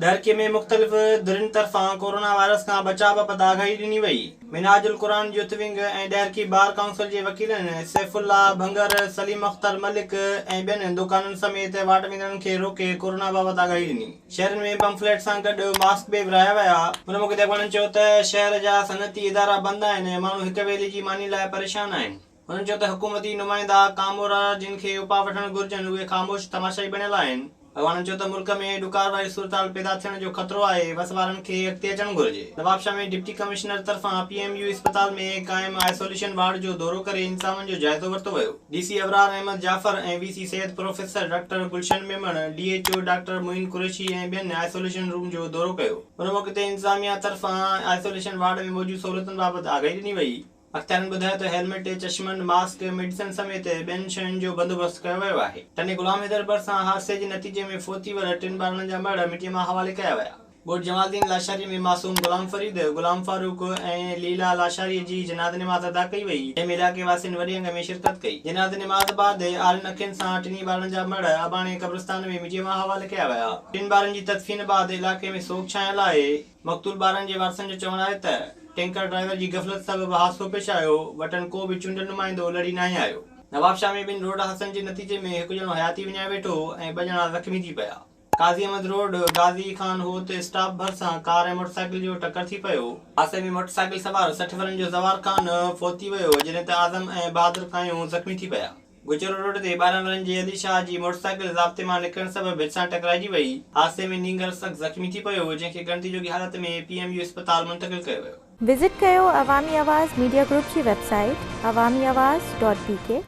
ڏھرڪي ۾ مختلف ڌرين طرفان ڪورونا وائرس کان بچاء بابت آگاھي ڏني وئي. Minhaj ul-Quran youth wing ۽ Daharki bar council جي وڪيلن سيف الله ڀنگر، سليم اختر ملڪ ۽ ٻين دوڪانن سميت واٽ ويندڙن کي روڪي ڪورونا بابت آگاھي ڏني. شھرين ۾ پمفليٽ سان گڏ ماسڪ به ورھايا ويا. ان موقعي تي اڳواڻن چيو ته شھر جا صنعتي ادارا بند آھن ۽ ماڻھو ھڪ ويلي جي ماني لاء پريشان آھن. هن چيو ته حڪومتي نمائندا ڪامورا جن کي اپاء وٺڻ گهرجن اهي خاموش تماشائي بڻيل آهن. اڳواڻن چيو ته ملڪ ۾ ڏڪار واري صورتحال پيدا ٿيڻ جو خطرو آهي وس وارن کي اڳتي اچڻ گهرجي. نوابشاهه ۾ ڊپٽي ڪمشنر طرفان پي ايم يو اسپتال ۾ قائم آئسوليشن وارڊ جو دورو ڪري انتظامن جو جائزو ورتو ويو. D C Abrar Ahmed Jafar ۽ V C Syed professor doctor Gulshan Memon, D H O doctor Moin Qureshi ۽ ٻين آئسوليشن روم جو دورو ڪيو. ان موقعي تي انتظاميا طرفان آئسوليشن وارڊ ۾ موجود سهولتن بابت آگاهي ڏني وئي. اختيارين ٻڌايو ته هيلمٽ، چشمن، ماسڪ، ميڊيسن سميت ٻين شين جو بندوبست ڪيو ويو آهي. تني غلام حيدر ڀرسان حادثي جي نتيجي ۾ فوت ٿي ويل ٽن ٻارڙن جا مڙهه مٽيء مان حوالي ڪيا ويا. ڳوٺ جمال الدين لاشاري ۾ معصوم غلام فريد، غلام فاروق ۽ ليلا لاشاري جي جنازي نماز ادا ڪئي وئي، جنهن ۾ علائقي واسين وڏي انگ ۾ شرڪت ڪئي. جنازي نماز بعد آرين اکين سان ٽنهي ٻارڙن جا مڙهه اباڻي قبرستان ۾ مٽيء مان حوالي ڪيا ويا. ٽن ٻارڙن جي تدفين بعد علائقي ۾ سوڳ ڇانيل آهي. مقتول ٻارڙن جي وارثن جو چوڻ آهي ته ٽينڪر ڊرائيور جي غفلت سبب حادثو پيش آيو، وٽن ڪو به چونڊيل نمائندو لڙي ناهي آيو. نوابشاهه ۾ ٻن روڊ حادثن جي نتيجي ۾ هڪ ڄڻو حياتي وڃائي ويٺو ۽ ٻه ڄڻا زخمي ٿي پيا. قاضي احمد روڊ غازي خان هوء تي اسٽاپ ڀرسان ڪار ۽ موٽرسائيڪل جو ٽڪر ٿي پيو. حادثي ۾ موٽرسائيڪل سوار سٺ ورهين جو زوار خان فوت ٿي ويو، جڏهن ته اعظم ۽ بهادر ڪايون زخمي ٿي پيا. گجر روڊ تي ٻارهن ورهين جي علي شاهه جي موٽرسائيڪل ضابطي مان نڪرڻ سبب ڀت سان ٽڪرائجي وئي. حادثي ۾ نينگر سخت زخمي ٿي پيو هو، جنهن کي ڳڻتي جوڳي حالت ۾ پي ايم يو اسپتال منتقل ڪيو ويو. وزٽ ڪيو عوامي آواز ميڊيا گروپ جي website Awami Awaz dot بي ڪي.